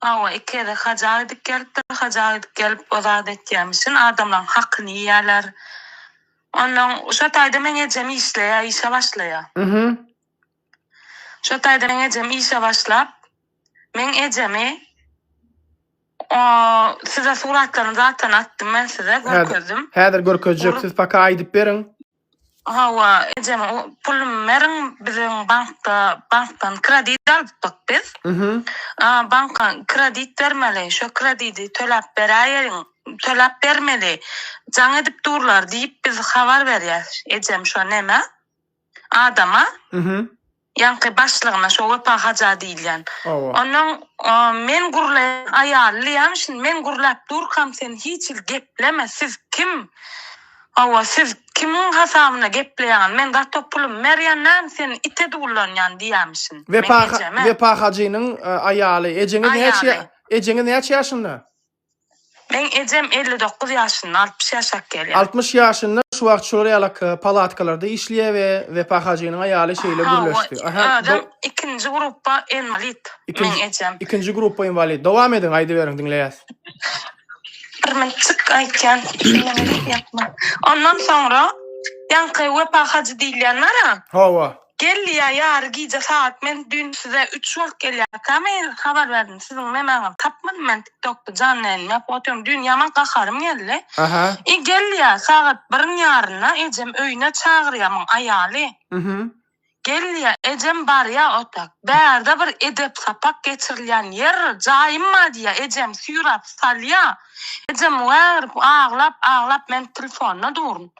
Hawa, iki gezek haja gidip gelipdir. Haja gidip gelip o zady etýämişin, adamlaryň hakyny iýýärler. Onnoň şo taýda meň ejem işleýär, işe başlaýar. Şo taýda meň ejem işe başlap, meň ejemi o size suratlaryny zatdan atdym men size, görkezdim. Häzir görkezjek, siz paka aýdyp beriň. Hawa, ejem pulumy beriň, biziň bankda bankdan kredit alypdyk biz. Banka kredit bermeli, şo kredidi töläp beräýeliň, töläp bermeli, jaň edip durlar diýip biz habar berýäs ejem şo nämä, adama. Ýaňky başlygyna şo Wepa haja diýilýän. Hawa. Onnoň men gurlaýan aýallyýam şindi men gurlap durkam sen hiç hili gepleme siz kim hawa siz kimiň hasabyna gepleýäňiz men gato pulumy berýän näme sen ite dullanýan diýýämişin men ejeme. Wepa Wepa hajynyň aýaly ejeňiz näçe ejeňiz näçe ýaşynda? Meň ejem elli dokuz ýaşynda, altmyş ýaşap gelýär. Altmyş ýaşynda şu wagt şular ýala k palatkalarda işleýär we Wepa hajynyň aýaly şeýle Aha, o gürleşdi. Aha, do adam ikinji grupba enwalit, ikinji, meň ejem. ikinji grupba enwalit. Dowam ediň, aýdyberiň, diňleýäs. Birmünçik aýtýan, diňlemedik ýapma. Ondan soňra, ýaňky Wepa hajy diýilýän bar-a. Hawa. Geldi ýa ýary gije sagat men düýn size üç wagt gelýärkä mail habar berdim siziň nemäňizi tapmadym men tiktokda janly ýaýyn ýapyp otyrdym düýn ýaman gaharym geldi i geldi ýa sagat biriň ýarynda ejem öýüne çagyrýa muň aýaly geldi ýa ejem barýa otak bärde bir edep sapak geçirilýän ýer jaýym bar diýýä ejem süýräp salýa ejem wä aglap aglap men tlfonda durun.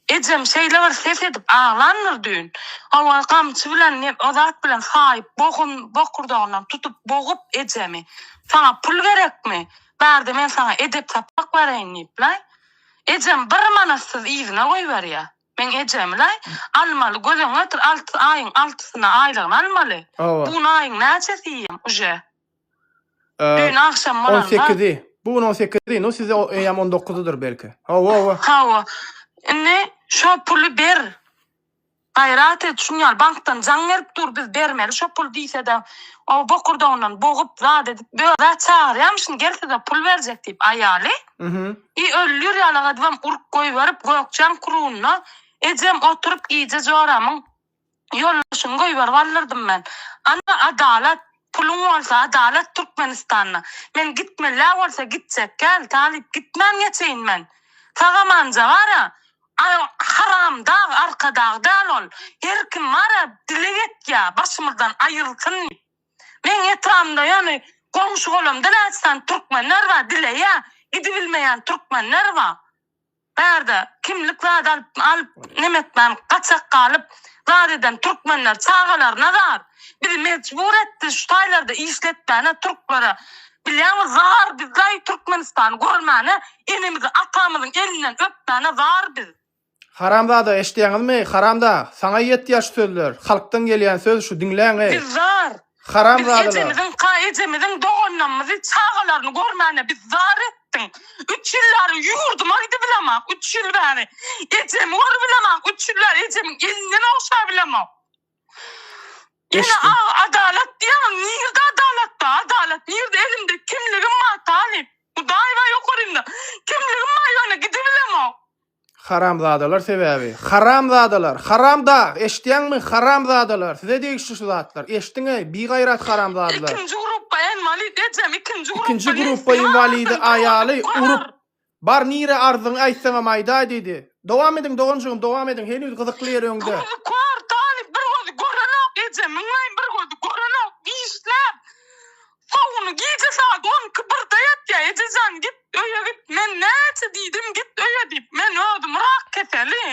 Ejem şeýle bir ses edip aglandyr düýn. Hawa, gamçy bilen ne o zat bilen saýyp, bogun bokurdagyndan tutup bogup ejemi. Saňa pul gerekmi? Bärde men saňa edep sapak bereýin diýip-laý. Ejem bir manatsyz yzyna goýberýär. Meň ejemi-laý, almaly göz öňüne getir, alty aýyň altysyna aýlygyny almaly. Bu gün aýyň näçesi diýýän, uje. Düýn agşam bolan zat. On sekizi. Bu gün on sekizi, nu size eýýäm on dokuzydyr belki. Hawa-wa. Hawa. Indi şo puly ber. Gaýrat et, şuny al. Bankdan jaň berip dur, biz bermeli şo puly diýse-de, o bokurdagyndan bogup, zat edip, bö-ä çagyrýamyşyn, gel size pul berjek diýip, aýaly. I öllür ýaly edibem urup goýberip, gökjäň krugyna ejem oturyp gije joramyň Ýoldaşymy goýberip aldyrydym men. Ana adalat, puluň bolsa adalat Türkmenistanda. Men gitmelä bolsa gitjekkäl, talyp gitmän geçeýin men. Sagamanja bar-a, haramdag, arkadag däl ol. Her kim bar-a, dileg etýä, başymyzdan aýrylsyn diýip. Meň etrabymda ýöne goňşy-golamda näçe sany türkmenler bar, dileýä, gidibilmeýän türkmenler bar. Bärde kimlik zat alyp alyp nemetmän gaçak galyp zat eden türkmenler çagalaryna zar bizi mejbur etdi şu taýlarda işletmäne türklere bilýäňmi zar biz daýy türkmenistany görmäne enemizi atamyzyň elinden öpmäne zar biz. Haramzada eşdýäňizmi haramdag saňa ýetýär şu sözler halkdan gelýän söz şu diňläňi. Biz zar. Haram Biz zadalar. ejemiziň, ka ejemiziň doganlamyzy, çagalaryny görmäne biz zar etdiň. Üç ýyl bäri ýurdyma gidibilemok, üç ýyl bäri. Ejemi görübilemok, üç ýyl bäri ejemiň elinden ogşabilemok. Ene Eşdi. a adalat diýýäňiz, nirde adalat bar, adalat nirde, elimde kimligim bar talyp. Hudaý bar ýokarynda. Kimligim bar ýöne gidibilemok. Haramzadalar sebäbi Haramzadalar Haram dag eşitýäňmi Haramzadalar size degişli şu zatlar eşdiňeý bigaýrat Haramzadalar. Ikinji grupba enwalid ejem ikinji grupba Ikinji grupba enwalidi aýaly urup bar nire arzyňy aýtsaňam aýdaý diýdi dowam ediň doganjygym dowam ediň heniz gyzykly ýer öňde. Gözi kör talyp bir gözi görenok eje müňleýin bir gözi görenok işläp Şo güni gije sagat on iki, birde ýatýa, Ejejan, git öýe git, men näçe diýdim, git öýe diýip, men özüm rak keseli,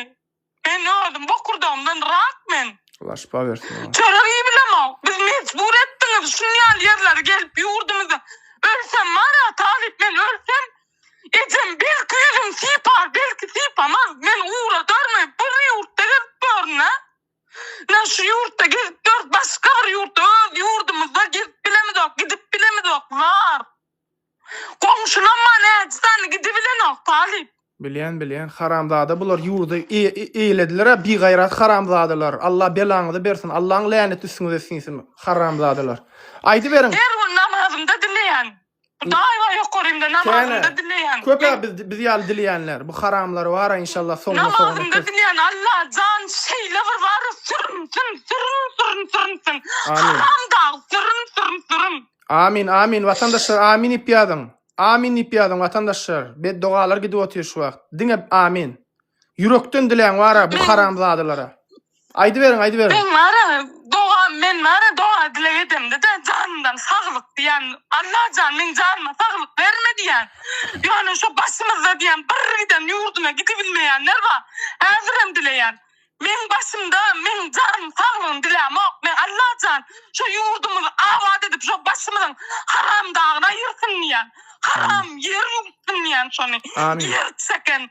men özüm bokurdagymdan rak men. Allah şypa bersin maňa. Çörek iýibilemok, biz mejbur etdiňiz şun ýaly ýerlere gelip ýurdumyzda, ölsem bara talyp men ölsem, ejem belki ýüzüm sypar, belki sypamaz, men ugradarmy, bir ýurtda gezip görün-ä, Nä şu ýurtda gezip ýörüs, başga bir ýurtda, öz ýurdumyzda gezip bilemizok, gidip bilemizok, zar. Goňşulamma näçesany gidibilenok, Talyp. Bilýän, bilýän. Haramzada bular ýurdy eýlediler-ä, bigaýrat haramzadalar. Alla belaňyzy bersin, Allaň läneti üstüňize siňsin, haramzadalar. Aýdyberiň. Her gün namazymda dileýän. Daýy ýokarynda namazynda dileýän. Köpä biz biz ýaly dileýänler. Bu haramlar bara inşallah soňuna soňuna. Namazynda dileýän Alla jan şeýle bir bara sürünsün sürün sürün sürünsün. Haram dag sürün sürün sürün. Amin amin watandaşlar amin diýip ýazyň. Amin diýip ýazyň watandaşlar. Beddogalar gidip otyr şu wagt. Diňe amin. Ýürekden diläň bara bu haramzadalara. Aýdyberiň, aýdyberiň. Men bara doga, men bara doga dileg edemde-de janymdan saglyk diýen. Allah jan meň janyma saglyk berme diýen. Ýöne şu başymyzda diýen bir giden ýurduna gidibilmeýänler bar. Häzirem dileýän. Meň başymda meň janym saglygyny dilämok. Men Allah jan şu ýurdumyzy abat edip şu başymyzyň haramdagyny aýyrsyn diýen. Haram ýer ýuwsyn diýen şony. Amin. Ýer çeken.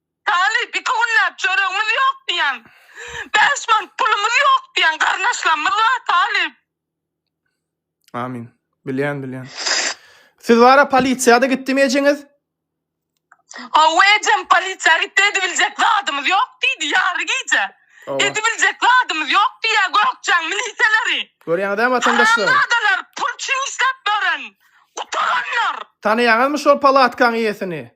Talyp, iki günläp çöregimiz ýok diýýäň. Bäş manat pulumyz ýok diýýäň. Garyndaşlarymyz bar, Talyp. Amin. Bilýän, bilýän. Siz wara polisiýa-da gitdimi ejeňiz? Hawa ejem, polisiýa gitdi, edibiljek zadymyz ýok diýdi, ýary gije. Hawa. Edibiljek zadymyz ýok diýýä Gökjäň milisiýaleri. Görýäňiz-ä watandaşlar. Haramzadalar, pul üçin işläp ýören, gutaranlar. Tanaýaňyzmy şol palatkaň iýesini?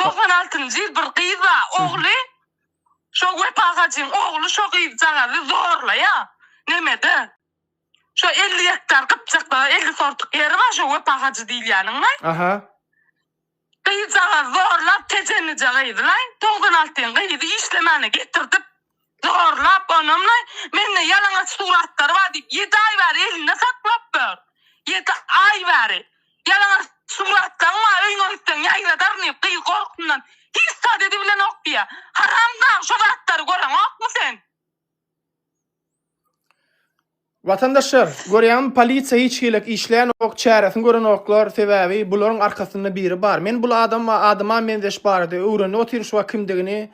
Togsan altynjy ýyl bir gyz bar, ogly şo Wepa hajyň ogly şo gyzjagazy zorlaýa nemede şo elli gektar gypjakda elli sortuk ýeri bar şo Wepa hajy diýilýäniň we Aha. gyzjagazy zorlap tejenije gyzy laý togsan alty ýyň gyzy işlemäne getirdip zorlap onamlaý mende ýalaňaç suratlary bar diýip ýedi aý bäri elinde saklap ýör ýedi aý bäri ýalaňaç suratlaň bar öýüňe gitseň ýaýradaryn diýip gyz gorkyndan hiç zat edibilenok diýýä haramdag şo zatlary göreňokmy sen. Watandaşlar görýäňmi polisiýa hiç hilik işlänok çäresini görenoklar sebäbi bularyň arkasynda biri bar men bul adam adama menzeş barada öwrenip otyryn şu wagt kimdigini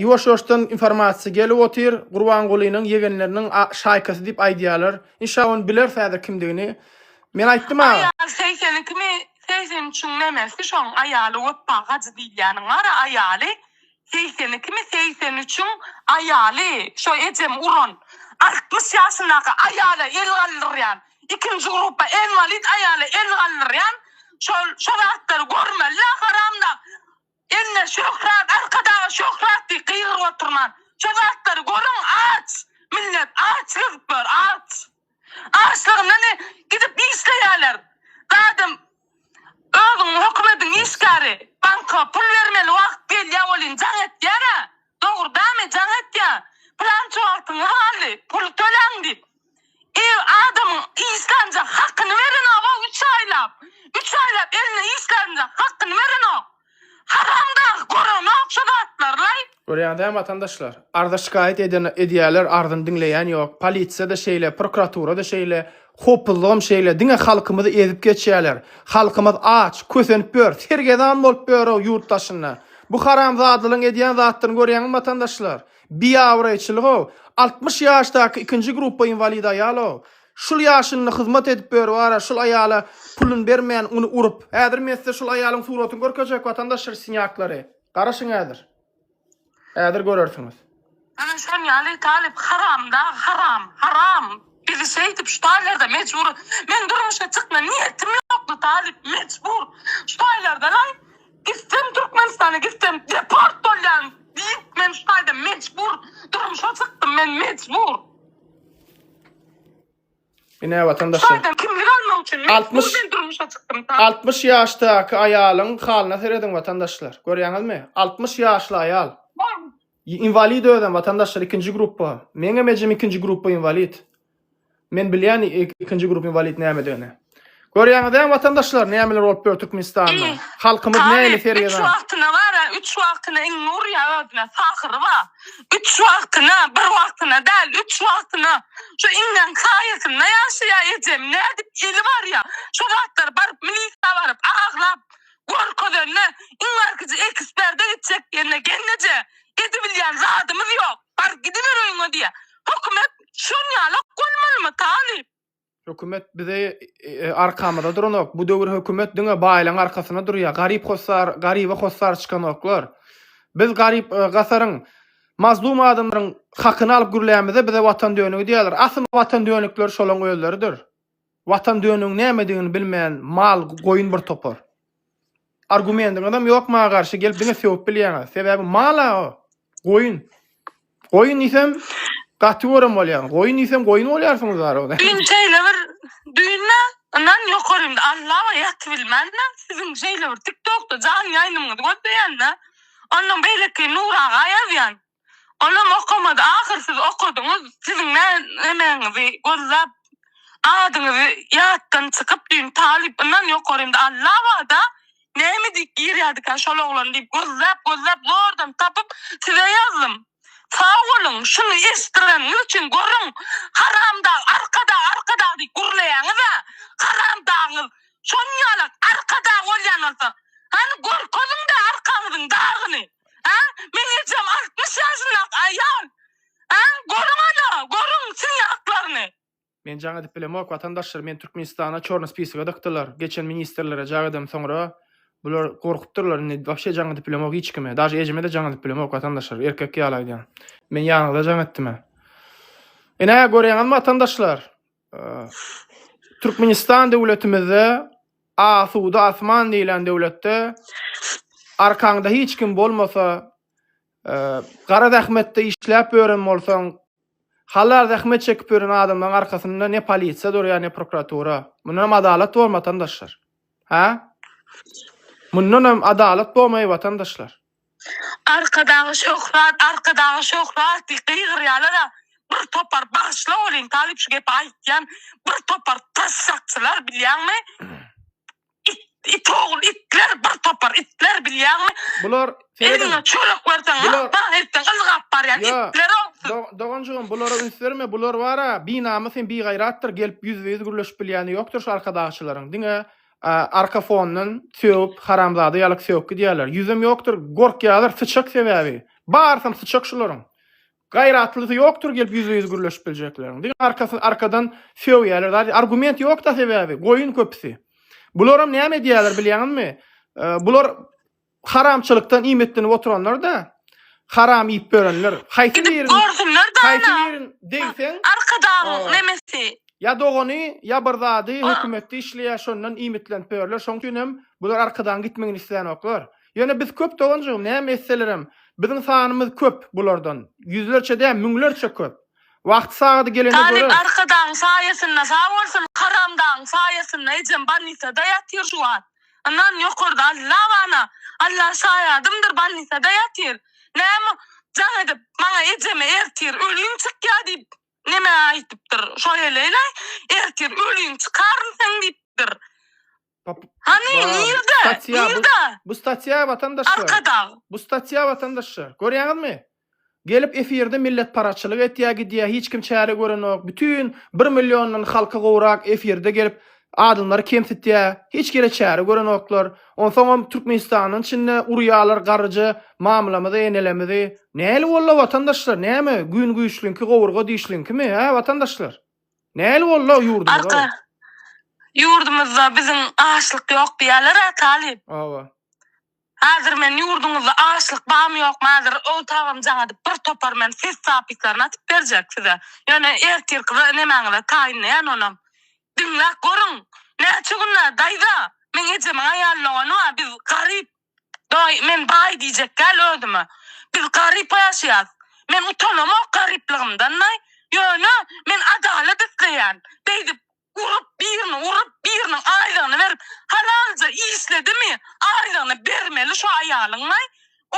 ýuwaş ýuwaşdan informasiýa gelip otyr gurbangulynyň ýegenleriniň şaýkasy diýip aýdýarlar inşa ony bileris häzir kimdigini men aýtdym aga. Aýal segsenikimi segsen üçiň nämesi şoň aýaly weppa hajy diýilýäniň bara aýaly Segsen ikimi segsen üçiň aýaly şo ejem uran altmyş ýaşyndaky aýala el galdyrýan ikinji gruppa enwalid aýala el galdyrýan şol şo zatlary görmelidä haramdag eline şöhrat arkadaga şöhrat diý gygyryp oturman şo zatlary görüň aç millet aç gezip ýör aç. Açlygyndan gidip işleýärler. Zadam özüň hökümediň işgäri. Banka pul bermeli wagt gelýä welin jaň etýärä. Dogurdamy jaň etýä. Pylança wagtyňyz galdy. Pul töläň diýip. Ir adamyň işlänjak hakyny berenok-ow üç aýlap. Üç aýlap eline işlänjak hakyny berenok. Haram dagy görenok şu zatlarlaý. Görýäňiz hä watandaşlar. Arza şikaýat eden edýäler arzyny diňleýän ýok. Polisiýada şeýle prokuraturada şeýle hopuzlygam şeýle diňe halkymyzy ezip geçýäler. Halkymyz aç, kösenip ýör, sergezan bolup ýöro ýurt daşynda. Bu haramzadalaň edýän zatlaryny görýäňizmi watandaşlar. Biabraýçylygow, altmyş ýaşdaky ikinji gruppa inwalid aýalow. Şul ýaşynda hyzmat edip böri bara şul aýala pulun bermän uny urup. Häzir men size şul aýalyň suratyny görkezjek watandaş rsinýaklary. Garaşyň häzir. Häzir görersiňiz. Mena şon ýaly talyp haram da haram haram bizi şeýdip şu taýlarda mejbur men durmuşa çykma niýetim ýokdy talyp mejbur şu taýlardanam gitsem türkmenistana gitsem deport bolýan diýip men şu taýda mejbur durmuşa çykdym men mejbur. Ine vatandaşlar. Adam kimlik almak üçin men 60 Türkmen durmuşa çykdym. Sağ 60 ýaşdaky aýalyň halyna serediň vatandaşlar. Görýäňizmi? 60 ýaşly aýal. bol. Inwalid özem vatandaşlar ikinji gruppa. Meňem ejem ikinji gruppa inwalid. Men bilýän ik- ikinji grup inwalid nämedigini. Görýäňiz däl watandaşlar nämeler bolup ýör Türkmenistanda. Halkymyz nähili sergä. Üç wagtyna bara üç wagtyna iňňe urýar özüne pahyry bar. Üç wagtyna bir wagtyna däl üç wagtyna şu iňňäň saýasynda ýaşaýar ejem nädip eli barýar şu zatlar baryp milisiýa baryp aglap görkezende iň barkije eksperde gitjek diýende gelneje edibilýän zadymyz ýok bar gidiber öýüňe diýýär hökümet şonýalak bolmalymy talyp. Hökümet bize arkamyza duranok. Bu döwür hökümet diňe baýlaň arkasyna durýar. Garyp hossar, garyba hossar çykanoklar. Biz garyp e, gasaryň mazlum adamlaryň hakyny alyp gürlämizde bize watan dönügi diýýärler. Aslynda watan dönükleri şolaň özleridir. Watan dönügiň nämedigini bilmeýän mal, goýun bir topar. Argumendiňizem ýok maňa garşy gelip diňe sögüp bilýäňiz. Sebäbi mala o. Goýun. Goýun diýsem gaty görem bolýaň. Goýun diýsem goýun bolýarsyňyz barada. Düýn şeýle bir düýnde ynhan ýokarymda Allawa ýatybilmände siziň şeýle bir tiktokda jan ýaýnymyňyzy gözleýände ondan beýleki Nuraga ýazýan. Olam okamady ahyr siz okadyňyz siziň nä nämäňizi gözläp adyňyzy ýatdan çykyp düýn talyp yndan ýokary indi Alla bada näme diýip girýädikä şol oglan diýip gözläp gözläp zordan tapyp size ýazdym sag boluň şuny eşdireniňiz üçin görüň haramdag arkadag arkadag diýip gürleýäňizä haramdagyňyz şonýalak arkadag bolýan bolsa hany görkeziňdä arkaňyzyň dagyny Hä? Meň ejem altmyş ýaşyndaky aýal. Hä? Görüň ana, görüň siz ýaklaryny. Men jaň edip bilemok watandaşlar meni Türkmenistana çorny spisige dykdylar geçen ministrlere jaň edem soňra bular gorkupdyrlar indi wapşe jaň edip bilemok hiç kime daže ejeme de jaň edip bilemok watandaşlar erkek ýaly aýdýan men ýanyňyza jaň etdimä enä göreňizmi watandaşlar Türkmenistan döwletimizde asuda asman diýlen döwletde arkaňda hiç kim bolmasa, gara zähmetde işläp ýören bolsaň, halal zähmet çekip ýören adamlaryň arkasynda ne polisiýa durýar, ne prokuratura. Mundanam adalat bor watandaşlar. Hä? Mundanam adalat bolmaý watandaşlar. Arkadagy Şöhrat, Arkadagy Şöhrat diýip gygyrýalar-a, bir topar bagyşla welin, talyp şu gepi aýtýan, bir topar tassakçylar bilýäňmi, it, it ogul itler, bir topar itler bilýäňmi, Bular, serediň, eliňe çörek berseň, bular- lap-bam etseň ylgap barýan Ýa, itler ogsul. do- doganjygym, bulara üns berme, bular bar-a, binamys hem bigaýratdyr, gelip ýüzbe-ýüz gürleşip bilýäni ýokdur şu arkadagçylaryň, diňe arka fondan sögüp haramzada ýalyk sögüp gidýärler ýüzem ýokdyr gorkýalar syçak sebäbi barysam syçak şularyň gaýratlysy ýokdyr gelip ýüzbe ýüz gürleşip biljekleriň diňe arkasy arkadan sögýärler zady argument ýokda sebäbi goýun köpüsi bularam näme edýärler bilýäňizmi bular Haramçylykdan iýmitlenip oturanlar-da, haram iýip ýörenler. Haýsy Gidip biriň, görsünler-de haýsy ana. biriň degseň, Arkadagyň Aa. nemesi. ýa dogany, ýa bir zady, Aa. hökümetde işleýär, şondan iýmitlenip ýörler. Şoň üçin hem bular arkadagyň gitmegini islänoklar. Ýöne biz köp doganjygym, näme etselerem, biziň sanymyz köp bulardan. Ýüzlerçe däl, müňlerçe köp. Wagty-sagady gelende Talyp göreris. arkadagyň saýasynda sag bolsun, haramdagyň saýasynda ejem bolnisada ýatyr şu wagt. Yndan ýokarda Alla bana. Alla şaýadymdyr bolnisada ýatyr. Näme jaň edip maňa ejeme ertir ölüň çykýa diýip neme aýtypdyr. Şo heleýlaý ertir ölüň çykaryn seň diýipdir. Hany nirde? Nirde? Bu statýa watandaşlar. Arkadag. Bu statýa watandaşlar. Görýäňizmi? Gelip efirde milletparaçylyk etýä gidýä hiç kim çäre görenok bütün bir milliondan halky gowrak efirde gelip adamlary kemsitýä hiç kele çäre görenoklar onsoňam türkmenistandan içinde urýalar garryja mamlamyzy enelemizi näli bolla watandaşlar näme gün güýçliňki gowurga dişliňkimi hä watandaşlar näli bolla ýurdumyza. Ýurdumyzda biziň açlyk ýok diýýäler a talyp. Hawa. Hazir men ýurduňyzda açlyk bamy ýokmy hazir ow tabam jaňadyp bir topar men ses zapislaryny atyp berjek size ýöne ertirki nemäňize taýynlaýan onam diňläp görüň näçe günä daýza meň ejemiň aýalyny oňa biz garyp daýy men baý diýjek däl özüme biz garyp ýaşaýas men utanamok garyplygymdan daýy ýöne men adalat isleýän beýdip Urup birini urup biriniň aýlygyny berip halalja işledimi aýlygyny bermeli şu aýalyňlaý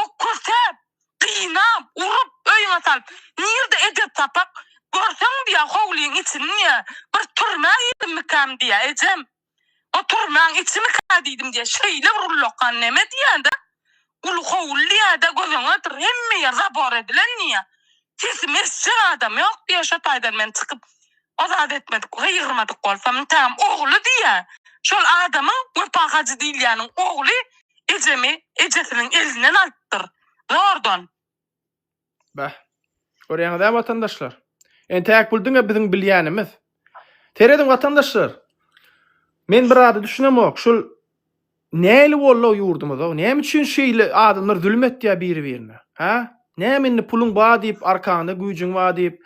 okürtäp gynap urup öýüňe salyp nirde edep sapak görseň diýä howlyň içini diýä bir türmä girdimmikam diýä ejem o türmäň içimikä diýdim diýä şeýle bir ullakan neme diýädä Uly howul diýäýdä göz öňe getir, hemme ýer zabor edilen diýýä. Sesimi eşjek adam ýok diýýä, şo taýdan men çykyp ozat etmedik, gygyrmadyk bolsam ntäm, ogly diýýä. Şol adamyň Wepa Hajy diýilýäniň ogly ejemi ejesiniň elinden alypdyr, zordan. Bäh. Görýäňiz-ä watandaşlar. Entäk pul diňe biziň bilýänimiz. Serediň watandaşlar. Men bir zada düşünemok. Şul näli boldy ýurdumyz-ow? Näme üçin şeýle adamlar zulum etýär biri-birine? Hä? Näme indi puluň bar diýip, arkaňda güýjüň bar diýip,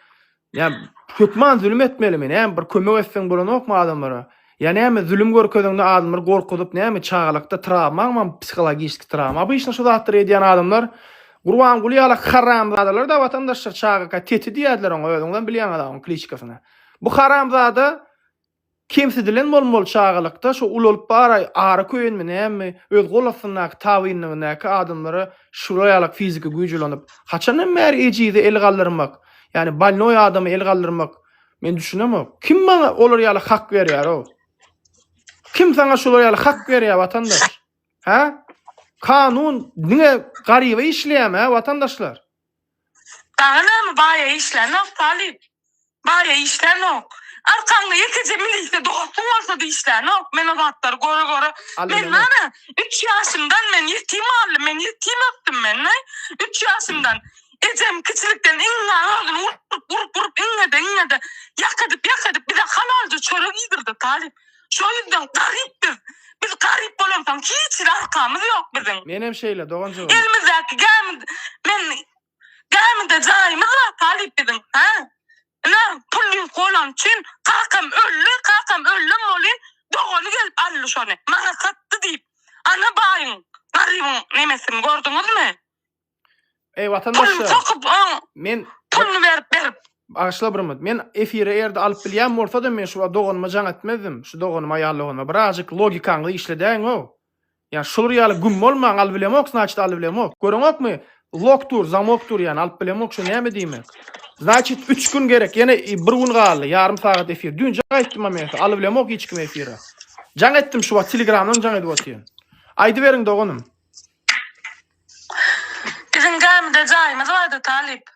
Ýa hökman zulum etmelimi? Näme bir kömek etseň bolanokmy adamlara? Ýa näme zulum görkezeňde adamlary gorkuzyp näme çagalykda trawmaňmy psihologiski trawma obyçna şu zatlary edýän adamlar Gurbanguly ýaly haramzadalar da watandaşlar çagaka teti diýerdiler oňa özüňizem bilýäňiz aw oň kliçkasyny bu haramzada Kemsidilen bolmaly çagalykda şo ulalyp baraý ara köýenmi näme öz gol astyndaky tabynlygyndäki adamlara şura ýalak fiziki güýç ulanyp haçandan bäri ejize el galdyrmak ýani balnoý adama el galdyrmak men düşünemok kim maňa olar ýaly hak berýär ow kim saňa şular ýaly hak berýär watandaş hä kanun diňe garyba işleýärmi hä watandaşlar. Dagy näme baýa işlänok talyp. Baýa işlänok. Arkaňda ýekeje milisiýa dosty bolsady işlänok. Men o zatlary göre göre men näme üç ýaşymdan men ýetim galdym men ýetim ösdüm men näý üç ýaşymdan ejem kiçilikden iňňä özüni urup urup urup iňňede iňňede ýak edip ýak edip bize halalja çörek iýdirdi talyp Şo ýüzden garyp biz. Biz garyp bolamsoň hiç hili arkamyz ýok biziň. Menem şeýle doganjygym. Elimizdäki gämi men gämide jaýymyz bar talyp biziň hä. Ine pul ýüz golan üçin kakam öldi kakam öldem bolyn dogany gelip aldy şony maňa satdy diýip ana baýyň garybyň nemesini gördüňizmi. Ey Pul vatandaşlar, sokup oň men puluny berip berip. Bagyşla bir minut. Men efiri eger-de alyp bilýän bolsadym, men şu doganyma jaň etmezdim. Şu doganyma, aýal doganyma birazjyk logikaňyzy işledäýiň-ow. Ýa şular ýaly güm bolmaň, alyp bilemok, znaçit alyp bilemok. Göreňokmy? Lok dur, zamok dur ýa-ni alyp bilemok, şu näme diýmek? Znaçit üç gün gerek, ýene i, bir gün galdy, ýarym sagat efir. Düýnjek aýtdym-a men size, alyp bilemok hiç kim efiri. Jaň etdim şu wagt, telegramdan jaň edip otyryn. Aýdyberiň doganym. Biziň gämide jaýymyz bardy, talyp.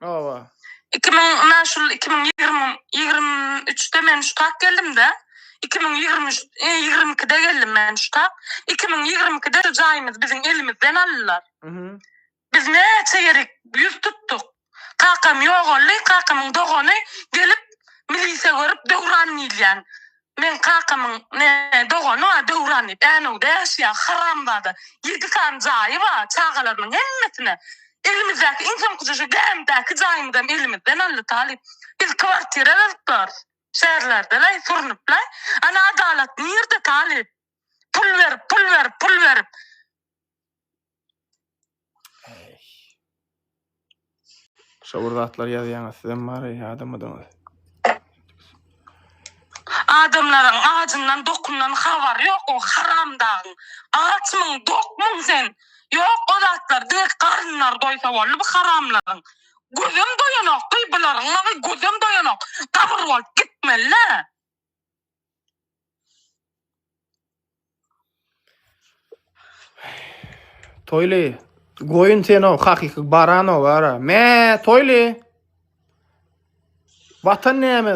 Hawa. Iki müň, ynha şul iki müň ýigrimi, ýigrimi üçde men şu tak geldim-de, iki müň ýigrimi üç, e, ýigrimi ikide geldim men şu tak. Iki müň ýigrimi ikide şu jaýymyzy biziň elimizden aldylar. Biz näçe ýerik ýüz tutduk. Kakam ýogaldy, kakamyň dogany gelip milise görüp Döwran diýilýän. Meň kakamyň ne dogany bar Döwran diýip Änewde ýaşaýar haramzada. Ýedi sany jaýy bar, çagalarynyň hemmesine elimizdäki iň soňkuja şu gämidäki jaýymyzam elimizden aldy talyp. Biz kwartira gyzyklarys. Şäherlerdelaý, sürnüplaý. Ana adalat nirde talyp? Pul berip, pul berip, pul berip. Şo bir zatlar ýazýaňyz, sizem bary ýadamydyňyz. Adamlaryň ajyndan, dokundan habary ýok o haramdagyň. Açmyň, dokmuň sen? Ýok o zatlar, diňe garynlary doýsa boldy bu haramlaryň. Gözem doýanok, gyýbalaryň maňy gözem doýanok. Gabyr bolup gitmeli-le. Toýly, goýun sen o hakyky baran o bara. Me, Toýly. Watan näme,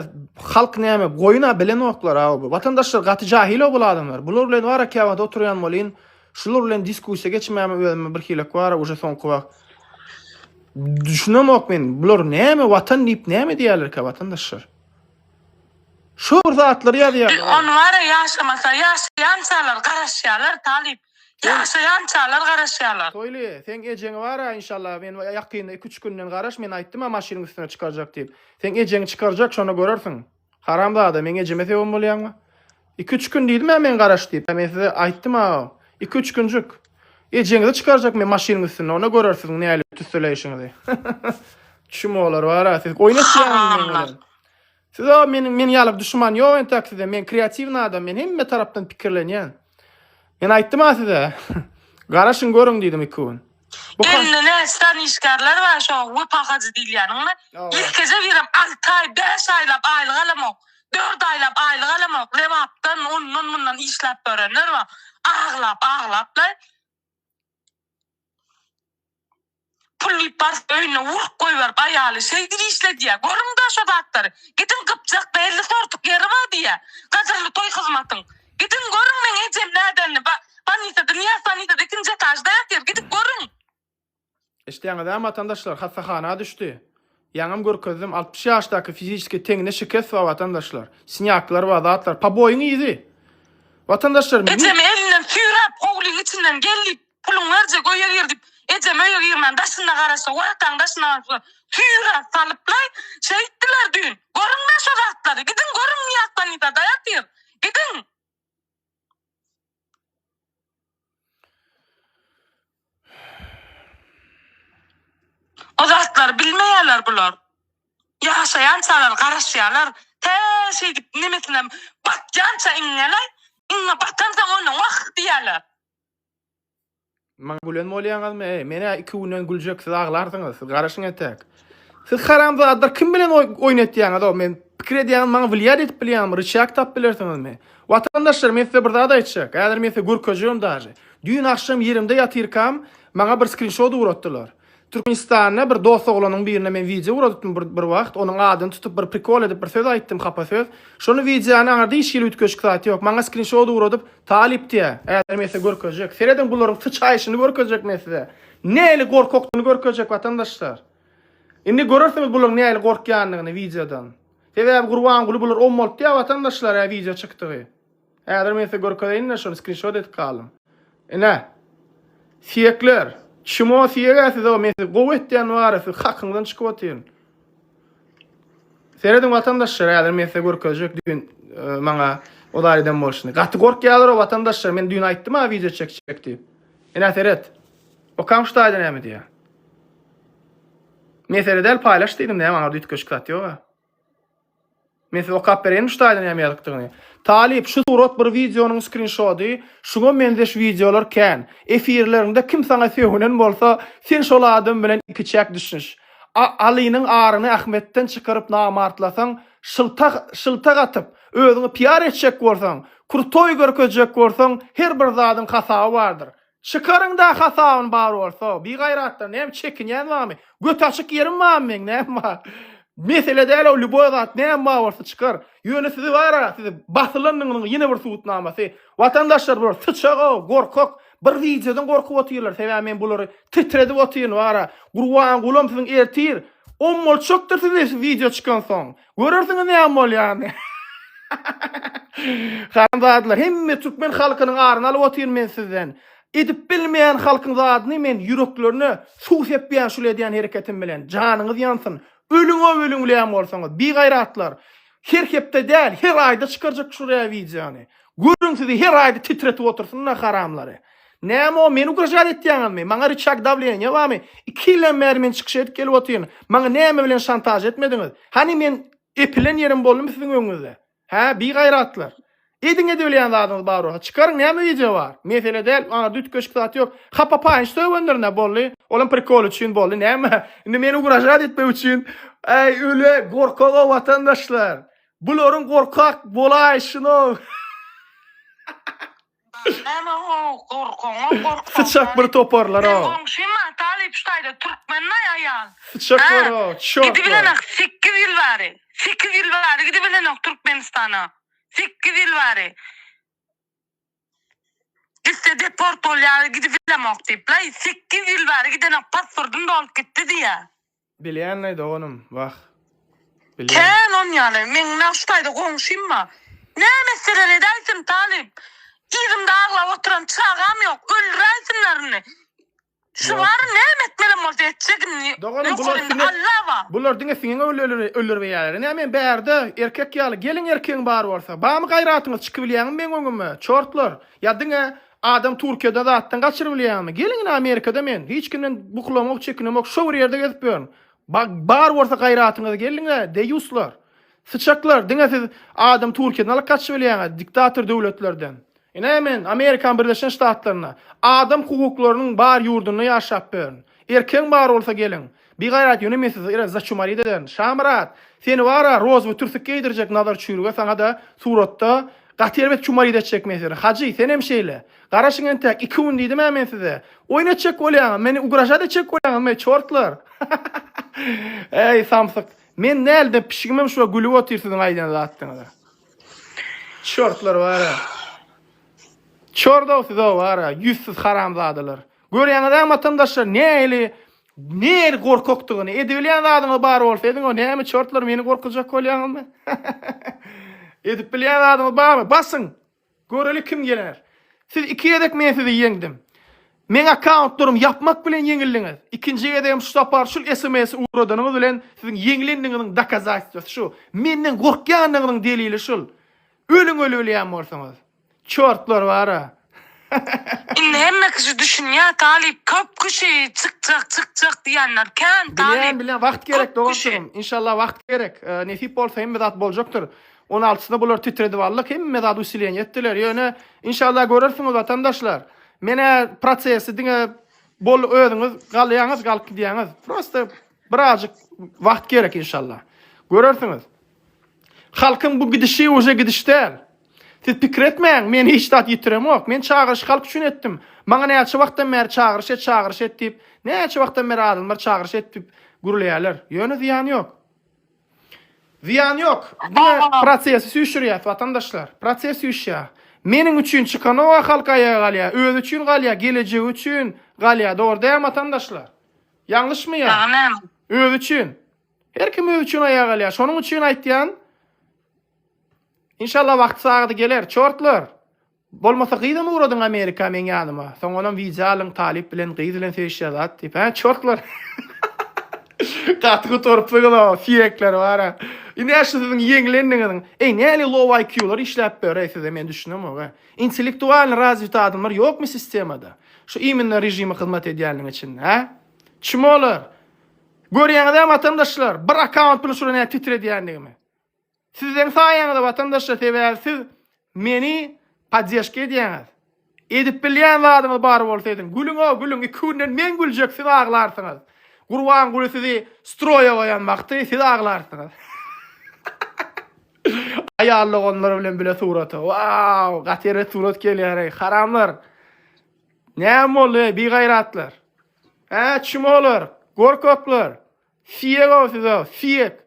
halk näme, goýuna bilen oklar aw bu. Watandaşlar gaty jahil o bul adamlar. Bular bilen wara käwagt oturýan bolýan. Şular bilen diskussiýa geçmäme özüme bir hilek wara uje soňky wagt. Düşünemok men. Bular näme watan diýip näme diýerlerkä watandaşlar? Şo bir zatlary ýazýarlar. Biz ony wara ýaşamasa ýaşaýançalar garaşýarlar talyp ýaşaýançalar garaşýarlar. Toýly seň ejeňi bara inşallah men ýakynda iki üç günden garaş men aýtdym-a maşynyň üstüne çykarjak diýip. Seň ejeňi çykarjak şonda görersiň. Haramzada meň ejeme söýen bolýaňmy? Iki-üç gün diýdim-ä men garaş diýip. Men size aýtdym agam. Iki-üç günjük. Ejeňizi çykarjak men maşynyň üstünde, onda göreris siziň nälik tüsseleýşiňizi. Çmolar bar-a siz. Oýnaşýaňyz meň bilen. Siz o meniň men ýaly duşman ýok entäk sizde. Men kreatiwny adam, men hemme tarapdan pikirlenýän. Men aýtdym-a size. Garaşyň görüň diýdim iki gün. Bu ha- Elinde näçe sany işgärler bar, şo we pahajy diýilýäniňmi? Ýekeje birem alty aý, bäş aýlap aýlyk alamok. Dört aýlap aýlyk alamok, Lebapdan, ondan, mundan işläp ýörenler bar. Aglap, aglaplar. Pul diýip baryp öýüne urk goýberip aýaly şeýdip işle diýýä. Görüň-dä şo zatlary. Gidiň Gypjakda elli sortuk ýeri bar diýýä. Gadyrly toý hyzmatyň. Gidiň görüň meň ejem nädenini. Ba, bannisada, Nyýaz bannisada ikinji etažda ýatyr. Gidip görüň. Eşitýäňizämi, watandaşlar, hassahana düşdi. Ýaňam görkezdim, altmyş ýaşdaky fiziskiý teňine şikes bar, watandaşlar. Snýaklar bar, zatlar. Poboýyň yzy. Watandaşlar, men. Ejemi elinden süýräp, howlyň içinden gel diýip, puluňy berjek, öýe gir diýip, ejem öýe girmän, daşynda garaşsa, wrataň daşynda garaşsa, süýräp salyplaý, şeýtdiler düýn. Görüň-le şo zatlary, gidiň görüň, Nyýaz sanitara daýatyr. Gidiň! Bu zatlary bilmeýärler bular. Ýaşaýançalar garaşýarlar. Tä şeýdip nemesine batýança iňňäler, iňňe batansoň onda wah diýýärler. Maňa gülen bolýaňyzmy? Eý, men-ä iki günden güljek, siz aglarsyňyz. Siz garaşyň entäk. Siz haramzadalar kim bilen oýun etýäňiz-ow? Men pikir edýäňiz, maňa wlýad edip bilýäňmi? Ryçýak tapyp bilersiňizmi? Watandaşlar, men size bir zat aýtjak. Häzir men size görkezjegem daže. Düýn agşam ýerimde ýatyrkam, maňa bir skrinşot ugratdylar. Türkmenistanda bir dost oglanyň birine men wideo guradypdym bir bir wagt, onuň adyny tutup bir prikol edip bir söz aýtdym hapa söz. Şony wideony aňyrda hiç hili üýtgeşik zat ýok. Maňa skrinşot ugradyp talyp diýýä. Häzir men size görkezjek. Serediň bularyň syçaýşyny görkezjek men size. Näli gorkakdyny görkezjek watandaşlar. Indi görersiňiz bularyň näli gorkýanyny wideodan. Sebäbi Gurbanguly bular ommaltýa watandaşlar hä wideo çykdygy. Häzir men size görkezeýin-de şony skrinşot edip galdym. Ine. Siýekler. Çmo siýeg-ä siz-ow men sizi gowy etýän bar-a siz hakyňyzdan çykyp otyryň. Serediň watandaşlar häzir men size görkezjek düýn maňa ozar eden bolşuny. Gaty gorkýalar-ow watandaşlar men düýn aýtdym-a wideo çekjek diýip. Ine seret. Okam şu taýda näme diýýär. Men seredäýeli paýlaş diýdim näme aňarda üýtgeşik zat ýog-a. Men size okap bereýinmi ştaýdan näme ýazykdygyny? Talyp, şu surat bir wideonyň skrinşody, şuňa meňzeş wideolar kän. Efirleriňde kim saňa sögünen bolsa, sen şol adam bilen ikiçäk düşüniş. A Alynyň aryny Ahmetden çykaryp namartlasaň, şylta şylta gatyp, özüňi PR etjek bolsaň, krutoý görkezjek bolsaň, her bir zadyň hasaby bardyr. Çykaryň da hasabyn bar bolsa. Bigaýratlar näme çekinýän barmy? Göti açyk ýerim barmy meň näme bar? Mesele däl o lýuboý zat näme bar bolsa çykar. Ýöne sizi bara sizi basylandygynyň ýene bir subutnamasy. Watandaşlar bular syçag-a gorkak bir wideodan gorkup otyrlar sebäbi men bulary titredip otyryn bara. Gurbangulam siziň ertir ommalçakdyr sizi şu wideo çykansoň. Görersiňiz näme bolýany. Haramzadalar, hemme türkmen halkynyň aryny alyp otyryn men sizden. Edip bilmeýän halkyň zadyny men ýüreklerine suw sepýän şul edýän hereketim bilen. Janyňyz ýansyn. Ölüňo ölüňleýän bolsaňyz, bigaýratlar. Her hepde däl, her aýda çykarjak şuraya wideony. Görüň sizi her aýda titretip otursynlar haramlary. Näme o, meni ugražat etýäňizmi? Maňa ryçag dawleniýa barmy? Iki ýyldan bäri men çykyş edip gelip otyryn. Maňa näme bilen şantaž etmediňiz? Hany men epilen ýerim boldumy siziň öňüňizde? Hä, bigaýratlar! Ediň edibilýän zadyňyz bar bolsa, çykaryň, näme wideo bar? Mesele däl, bu arada üýtgeşik zat ýok. Hapa paýyny sögendirin-ä, boldy. Olam prikol üçin boldy, näme? Indi meni ugražat etmek üçin, äý, öle gorkag-ow watandaşlar! Bularyň gorkak bolaýşyny-ow! Bar näme how gorkaňa gorkma. Syçak bir toparlar a. Seň goňşyň ma talyp şu taýda türkmen maý aýal. Syçak bar a çak. Gidibilenok sekiz ýyl bari sekiz ýyl bari gidibilenok türkmenistana sekiz ýyl bari gitse deport bolýa gidibilemok diýip la sekiz ýyl bari gidenok pasportym dolup gitdi diýýa. Bilýänleý doganym, wah. Bilýän. Kän on ýaly. Meň nagt şu taýda goňşym ba. Nä meseleler edäýsin, talyp? Yzymda aglap oturan çagam ýok. Öldüräýsinler indi. Şu bary näme etmelem bolsa etjek indi. Doganym, bular Ýokary indi siňe, Alla ba. bular diňe siňeňe öl, öl, öldürbeýärler. Ine, men bärde, erkek ýaly, geliň erkegiň bar bolsa. Bamy gaýratyňyz, çykybilýäňmi meň öňüme, çortlar? Ýa diňe Adam Türkiýede zatdan gaçyrybilýärmi? Geliň ine Amerikada men hiç kimden bukulamok, çekinemok, şo bir ýerde gezip ýörün. Bar bolsa gaýratyňyz geliň-le, deýuslar. Syçaklar, diňe siz adam Türkiýeden alyp gaçybilýäňiz, diktator döwletlerden. Ine men Amerikanyň Birleşen Ştatlarynda, adam hukuklarynyň bar ýurdunda ýaşap ýörün. Erkegiň bar bolsa geliň. Bigaýrat ýöne men sizi ere začumarit ederin. Şamyrat! Seni bar-a, rozwy türsük geýdirjek Nazar çüýrüge saňa-da suratda gaty erbet çumarit etjek men seni. Hajy, senem şeýle. Garaşyň entäk, iki gün diýdim-ä men size. Oýun etjek bolýaňyz, meni ugražat etjek bolýaňyzmy, çortlar? Äý, samsyk, men näldem pişigimem şuňa gülüp otyr siziň aýdan zatdyňyza. Çortlar bar-a. Çordow siz-ow bar-a, ýüzsüz haramzadalar. Görýäňiz-ä matamdaşlar, nähili Neri gorkakdygyny, edebilýän zadyňyz bar bolsa ediň, o näme çortlar meni gorkuzjak bolýaňyzmy? Edip bilýän zadyňyz barmy? Basyň. Göreli kim geler. Siz iki gezek men sizi ýeňdim. Men akkauntlarymy ýapmak bilen ýeňildiňiz. Ikinji gezegem şu sapar şul SMS-i ugradanyňyz bilen siziň ýeňilendigiňiziň dokazatstwasy şu. Menden gorkýandygyňyzyň delili şul. Ölüň öli bilýän bolsaňyz. Çortlar bara. Indi hemme kişi düşünýär talyp köp kişi çykjak çykjak diýenler kän talyp. Bilen bilen wagt gerek doganjygym. Inşallah wagt gerek. Nesip bolsa hemme zat boljakdyr. 16 syna bular titredip aldyk. Hemme zat usileniýe etdiler. Ýöne inşallah görersiňiz watandaşlar. Menä prosesi diňe bol özüňiz galýaňyz galyp gidýäňiz. Prosta birazjyk wagt gerek inşallah. Görersiňiz. Halkyň bu gidişi uje gidiş däl. Siz pikir etmäň, men hiç zat ýitiremok. Men çagyryşy halk üçin etdim. Maňa näçe wagtdan bäri çagyryş et, çagyryş et diýip, näçe wagtdan bäri adamlar çagyryş et diýip gürleýärler. Ýöne zyýany ýok. Zyýany ýok. Diňe prosesi süýşürýär, watandaşlar. Proses süýşýär. Meniň üçin çykanoga halk aýaga galýar. Özi üçin galýar, gelejegi üçin galýar. Dogry dälmi, watandaşlar? Ýalňyşmy ýa? Özi üçin. Her kim özi üçin aýaga galýar. Şonuň üçin aýtýan. Inşallah wagty sagady geler. Çortlar! Bolmasa gyzam ugradyň Amerika meň ýanyma. Soňanam wideo alyň talyp bilen gyz bilen söýüşýär zat diýip hä çortlar. Gaty gutarypsyňyza siýekler bara. Indi ä şu siziň ýeňlendiňiziň. Eý näli low IQ-lar işläp ber eý size men düşünemok ä. Intellektualny razwit adamlar ýokmy sistemada? Şu iminna režimi hyzmat edýänliň içinde hä? Çmolar! Görýäňizä watandaşlar bir akkaunt bilen şura nädip titredýändigimi. Siziň saýaňyzda watandaşlar sebäbi siz meni poddeşka edýäňiz. Edip bilýän zadyňyz bar bolsa ediň. Gülüňo gülüň iki günden men güljek siz aglarsyňyz. Gurbanguly sizi stroýa goýan wagty siz aglarsyňyz. Aýal doganlar bilen bile surata. Wow, gaty eret surat gelýär ey, haramlar. Näme boldy ey, bigaýratlar? Hä, çimolar, gorkaklar. Siýek o siz o, siýek.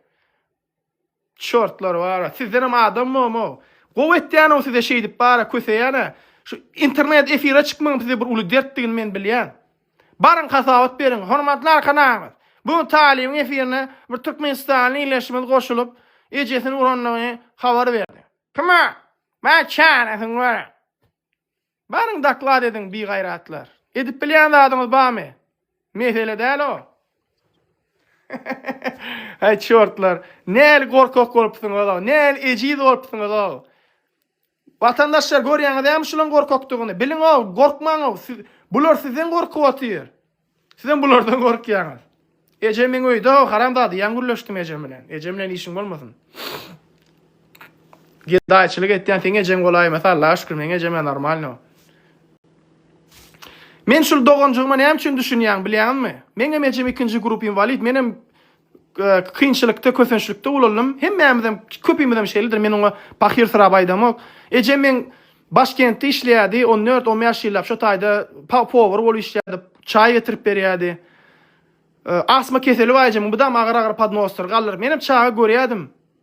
Çortlar bara sizdenem adam bomo. Gowy etýänow size şeýdip bara köseýäne. Şu internet efire çykmagyň size bir uly dertdigini men bilýän. Baryň hasabat beriň. Hormatly arkanamyz. Bu gün talybyň efirine bir türkmenistanly ildeşimiz goşulyp ejesini urandygyny habar berdi. Kime? Bari çaresini görä. Baryň doklad ediň bigaýratlar. Edip bilýän zadyňyz bamy? Mesele däl o. Ay çortlar. Nel gorkak bolupsyň ola. Nel eciz bolupsyň ola. Vatandaşlar görýäňiz hem şulan gorkakdygyny. Biliň o, gorkmaň o. Bular sizden gorkup otyr. Sizem bulardan gorkýaňyz. Eje meň öýdäw haramzada ýaň gürleşdim ejem bilen. Ejem bilen işiň bolmasyn. Gedaýçylyk etýän seň ejeň bolaýmasa Allaha şükür meň ejem normalno. Men şul doganjygyma näme üçin düşünýäň bilýäňizmi? Meňem ejem ikinji grup inwalid, menem Kynçylykda, kösençlikde ulaldim. Hemmämizem, köpimizem şeýledir. Men oňa pahyrsyrap aýdamok. Ejem meň Başkentde işleýärdi. On dört, on bäş ýyllap şo taýda powar bolup işleýärdi. Çaý getirip berýärdi. Astma keseli bar ejemiň. Bu dam agyr-agyr podnosdyr, galdyryp. Menem çaga görýärdim.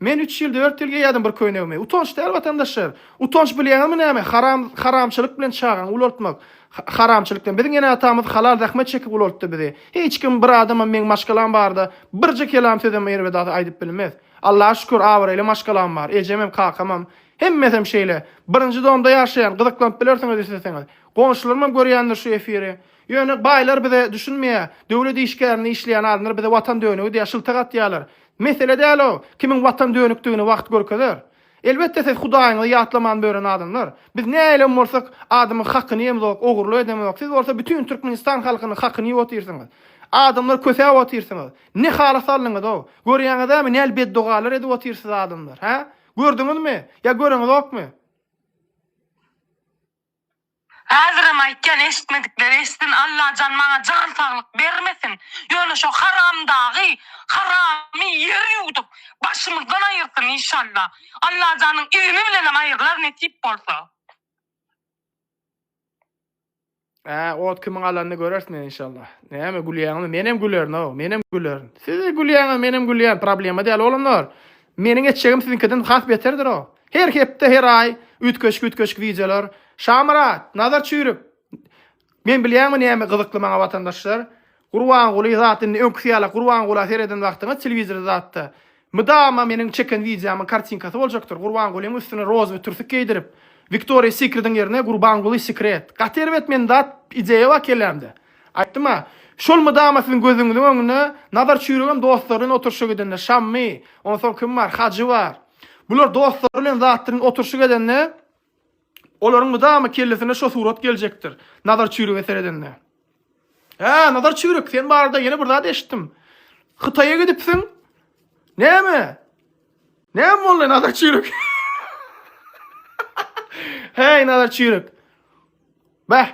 Men üç ýyl dört ýyl geýýärdim bir köýnegimi. Utanç däl watandaşlar. Utanç bilýäňizmi näme? Haram haramçylyk bilen çagany ulaltmak. Ha haramçylyk bilen. Biziň ene atamyz halal zähmet çekip ulaltdy bizi. Hiç kim bir adamam meň maşgalam barada birje kelam sözem erbedasy aýdyp bilmez. Allaha şükür abraýly maşgalam bar. Ejemem kakamam. Hemmesem şeýle. Birinji domda ýaşaýan. Gyzyklanyp bilersiňiz isleseňiz. Goňşularymam görýändir şu efiri. Ýöne baýlar bize düşünmeýär. Döwlet işgärinde işleýän adamlar bize watan dönügi diýýär, şyltak atýarlar. Mesele däl o, kimiň watan dönükdigini wagt görkezer. Elbetde siz Hudaýyňyzy ýatlaman bören adamlar. Biz nähilem bolsak adamyň hakyny ýemzok, ogurly edemok, siz bolsa bütin Türkmenistan halkynyň hakyny ýyp otyrsyňyz. Adamlar kösäp otyrsyňyz. Ne hala saldyňyz-ow. Görýäňizämi nähili beddogalar edip otyrsyz adamlar, hä? Gördüňizmi? Ýa göreňizokmy? Häzirem aýtýan eşitmedikleri eşitsin Allajan maňa jan saglyk bermesin ýöne şo haramdagy haramy ýer ýuwdup başymyzdan aýyrsyn inşalla Allajanyň izni bilenem aýyrlar nesip bolsa. Hä ot kimiň alanyny görersin inşalla. Näme gülýäňizmi? Menem gülerin-ow, menem gülerin. Siz gülýäňiz, menem gülýän, problema däl oglumlar. Meniň etjegim siziňkiden has beterdir-ow. Her hepde, her aý üýtgeşik-üýtgeşik wideolar. Şamyrat, Nazar çüýrük! Men bilýäňmi näme gyzykly maňa watandaşlar? Gurbanguly zat indi öňküsi ýalak Gurbangula sereden wagtyňyz telewizor zatda mydama meniň çeken wideomyň kartinkasy boljakdyr Gurbangulyň üstüne rozowy türsük geýdirip Victoria Secrediň ýerine Gurbanguly Secret. Gaty erbet men zat ideýa bakellämde. Aýtdym-a, şol mydama siziň gözüňiziň öňünde Nazar çüýregem dostlary bilen oturyşa gidende, Şammy, onsoň kim bar, Hajy bar. Bular dostlary bilen zat bilen oturyşyk edende, olaryň mydama kellesine şo surat geljekdir, Nazar çüýrege seredende. Hä, Nazar çüýrek, sen barada ýene bir zat eşitdim. Hytaýa gidipsiň? Näme? Näme boldy, Nazar çüýrek? Häý, Nazar çüýrek. Bäh,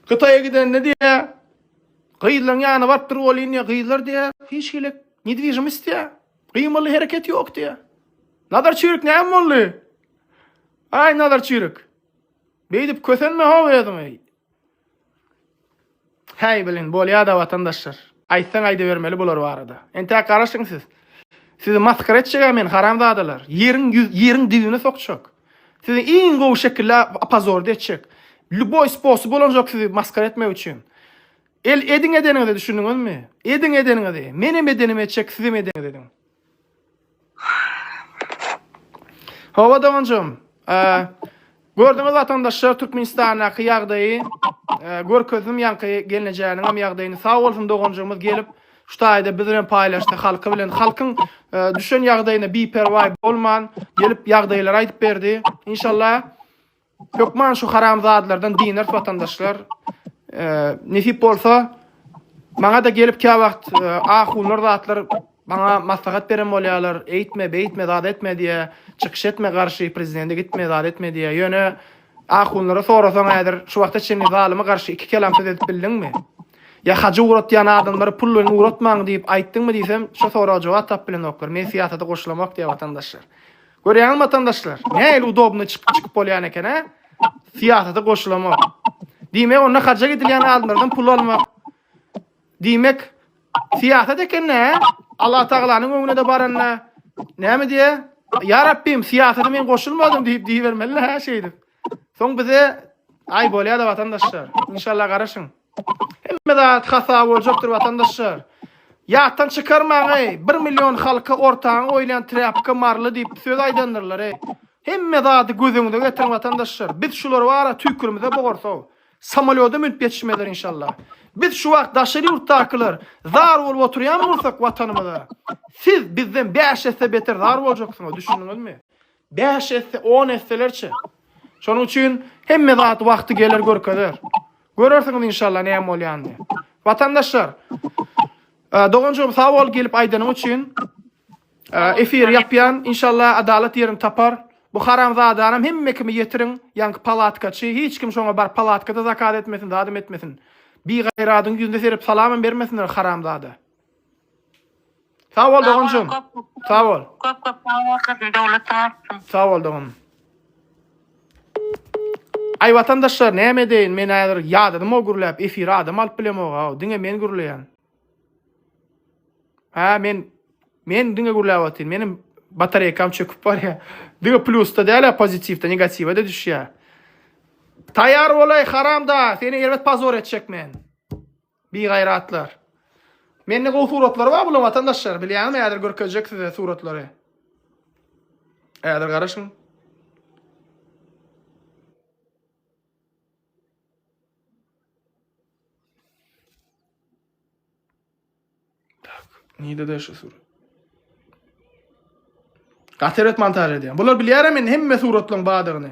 Hytaýa gidende diýýär, gyzlaryň ýanyna baryp durup bolýyn diýýär, gyzlar diýýär, hiç hili nedwižimist diýýär, gymylly hereket ýok diýýär. Nazar çüýrük näme boldy? Aý Nazar çüýrük. Beýdip kösenme ho özüňi. Häý bilin, bolýada watandaşlar. Aýtsaň aýdybermeli bular barada. Entäk garaşyň siz. Sizi masgara etjegä men haramzadalar. Ýeriň ýüz ýeriň dibine sokjak. Sizi iň gowy şekilde opozorda etjek. Lýuboý sposoby ulanjak sizi masgara etmek üçin. El ediň edeniňizi düşündiňizmi? Ediň edeniňizi. Menem edenimi etjek, sizem edeňiz ediň. Hawa doganjym. Gördüňiz watandaşlar Türkmenistandaky ýagdaýy. Görkezdim ýaňky gelnejäniň hem ýagdaýyny. Sag bolsun doganjygymyz gelip şu taýda biz bilen paýlaşdy halky bilen. Halkyň düşen ýagdaýyna biperwaý bolman gelip ýagdaýlary aýdyp berdi. Inşallah Hökman şu haramzadlardan dinar watandaşlar e, nesip bolsa maňa da gelip kä wagt e, ahunlar zatlar maňa maslahat beren bolýarlar. Eýtme, beýtme, zat etme diýe, çykyş etme garşy prezidente gitme, zat etme diýe. Ýöne ahunlara sorasaň häzir şu wagta çenli zalyma garşy iki kelam söz edip bildiňmi? Ya hacı uğratýan adamlara pullaryny uğratmaň diýip aýtdyňmy diýsem, şu soraga jogap tap bilenoklar. Men syýasata goşulamok diýýär watandaşlar. Görýäňizmi watandaşlar? Nähili udobny çykyp çykyp bolýan eken hä? Syýasata goşulamak. Diýmek onda haja gidilýän adamlardan pul almak. Diýmek syýasat eken nä? Allah tagalanyň öňüne de baranda näme diýe? Ya Rabbim syýasata men goşulmadym diýip diýibermeli hä şeýdip. Soň bize ay bolýar-da watandaşlar. İnşallah garaşyň. Hemme zat hasaba boljakdyr watandaşlar. Ýatdan çykarmaň eý, bir million halka ortaňa goýulýan trapka marly diýip söz aýdandyrlar eý. Hemme zady göz öňüňize getiriň watandaşlar. Biz şular bara tüýkürimize bogarso. Samolýoda münüp ýetişmezler inşallah. Biz şu wagt daşary ýurtdakylar zar bolup oturýan bolsak watanymyza, siz bizden bäş esse beter zar boljaksyňyz, düşündiňizmi? Bäş esse, on esselerçe. Şonuň üçin hemme zat wagty geler görkezer. Görersiňiz inşallah näme bolýanyny. Watandaşlar, e, doganjygym sag bol gelip aýdanyň üçin. E, efir ýapýan, inşallah adalat ýerini tapar. Bu haramzadanam hemme kimi ýetiriň, ýaňky palatkaçy, hiç kim şoňa bar palatkada zakat etmesin, zadam etmesin. Bigaýradyň ýüzüne serip salamam bermesinler haramzada. Sag bol doganjym. Sag bol. Köp köp sag bolsun, döwlet artsyn. Sag bol doganym. Ay vatandaşlar näme edeýin men häzir ýadadym o gürläp efire adam alyp bilemok ha diňe men gürleýän. Ha men men diňe gürläp atyn menim batareýkam çöküp barýa. Diňe plusda däl pozitiwde negatiwa da düşýä. Taýar bolaý haramda seni erbet pozor etjek men. Bigaýratlar. Mende gowy suratlary bar bulaň watandaşlar bilýäňizmi häzir görkezjek size suratlary. Häzir garaşyň. Nide de şu surat. Gaterbet montaj edýän. Bular bilýärem men hemme suratlaryň badygyny.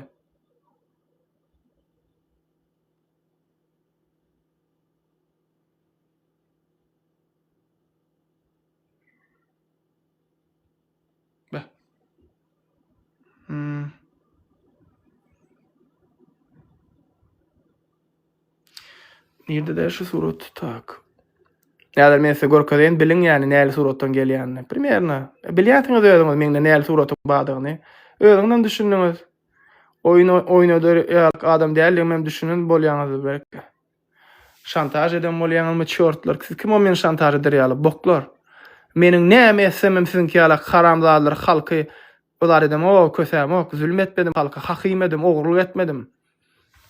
Nirde de şu surat tak. Näder men size görkezeýin biliň ýani näli suratdan gelýänini. Primerna. Bilýärsiňiz özüňiz meňde näli suratyň bardygyny. Özüňizem düşündiňiz. Oýun oýnadar ýalyk adam däldigimem düşünen bolýaňyzdyr belki. Şantaž eden bolýaňyzmy çortlar siz kim o meni şantaž eder ýaly boklar. Meniň näme etsemem siziňki ýalak haramzadalar halky yzar edemok, kösämok, zülüm etmedim halka, hakymedim, ogurlyk etmedim.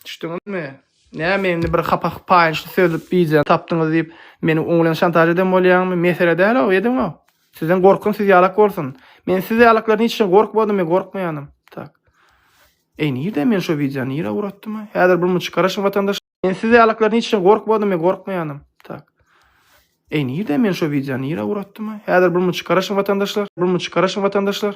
Düşdüňizmi? Näme indi bir hapa paýynçly söz diýjäni tapdyňyz diýip meni oňulen şantaž eden bolýaňmy? Mesele däl o, ediňo. Sizden gorkun siz ýalak bolsun. Men siz ýalaklardan hiç gorkmadym we gorkmaýanym. Tak. Eý nirde men şu wideony nire uratdym? Häzir bir muny çykaraşyň watandaş. Men siz ýalaklardan hiç gorkmadym we gorkmaýanym. Tak. Eý nirde men şu wideony nire uratdym? Häzir bir muny çykaraşyň watandaşlar. Bir muny çykaraşyň watandaşlar.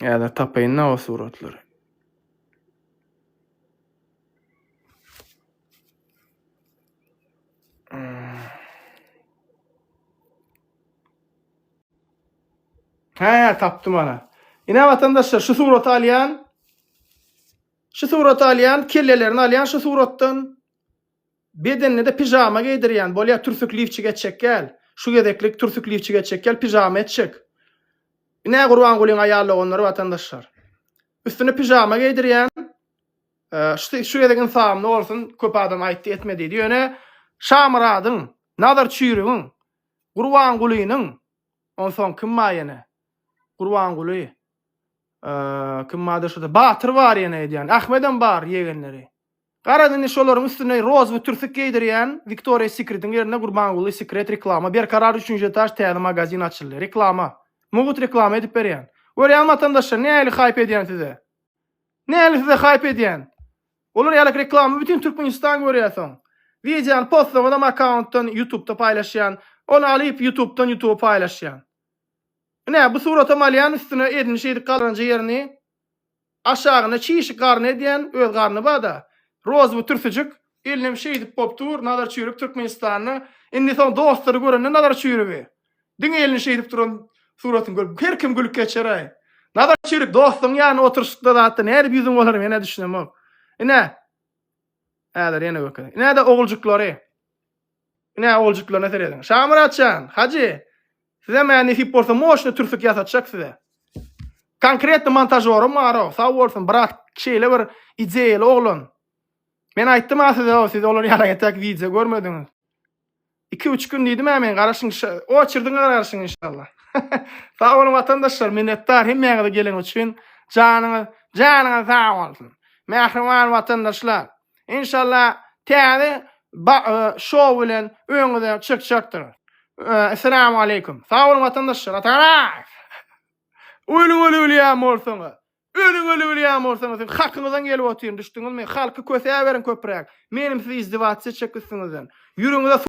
Häzir tapaýyn-da o suratlary. Hä, tapdym ana. Ine, watandaşlar, şu suraty alýan. Şu suraty alýan, kellelerini alýan şu suratdan. Bedenine-de pijama geýdirýän. Bolýar, türsük lifçik etjek gel. Şu gezeklik türsük lifçik etjek gel, pijama etjek. Ine, Gurbangulyň aýal doganlary, watandaşlar. Üstüne pijama geýdirýän. Şu gezek ynsabymda bolsun, köp adam aýtdy, etme diýdi. Ýöne Şamyradyň, Nazar Çüýrügiň, Gurbangulynyň Onsoň kim bar ýene? Gurbanguly. Kim bardyr şurada? Batyr bar ýene edýän. Ahmedem bar ýegenleri. Garaz indi şolaryň üstüne rozwy türsük geýdirýän Victoria Secret-iň ýerine Gurbanguly Secret reklama. Berkarar üçünji etaž täze magazin açyldy. Reklama. Mugut reklama edip berýän. Görýäňmi watandaşlar nähili haýp edýän size? Nähili size haýp edýän? Olar ýaly reklamy bütin Türkmenistan görýär soň. Wideony postlaňyzam akkauntdan ýutubda paýlaşýan, ony alyp ýutubdan ýutuba paýlaşýan. Ine bu suratam alýan üstüne edini şeýdip galranja ýerini aşagyna çişi garny edýän öz garny bada roz bu türtüjik elinem şeýdip bop dur Nazar çüýrük Türkmenistanda indi soň dostlary görende Nazar çüýrügi. Diňe elini şeýdip duran suratyny görüp her kim gülüp geçeräý. Nazar çürik dostuň ýanyna oturyşykda zatda nädip ýüzüň bolar menä düşünemok. Ine. Häzir ýene gökede. Ine-de oguljyklary. Ine oguljyklaryna serediň. Şamyrat jan, Hajy. Size mä nesip bolsa moşny türsük ýasatjak size. Konkretny montažorym bar o. Sag bolsun brat. Şeýle bir ideýaly oglan. Men aýtdym-a size o, siz olar ýaly ýatak wideo görmediňiz. Iki üç gün diýdim-ä men garaşyň oçerdiňe garaşyň inşallah. Sag boluň watandaşlar minnetdar hemmäňize gelen üçin janyňyz janyňyz sag bolsun. Mähriban watandaşlar inşallah täze e, şow bilen öňüňize çykjakdyr. E, Esselamu aleyküm. Sag boluň watandaşlar. Atarak. Ölüň ölü bilýän bolsaňyz. Ölüň ölü bilýän bolsaňyz, siz hakyňyzdan gelip otyryn, düşdüňizmi? Halky kösäberiň köpräk. Menim siz izdivasiýa çekipsiňizden. Ýüregiňize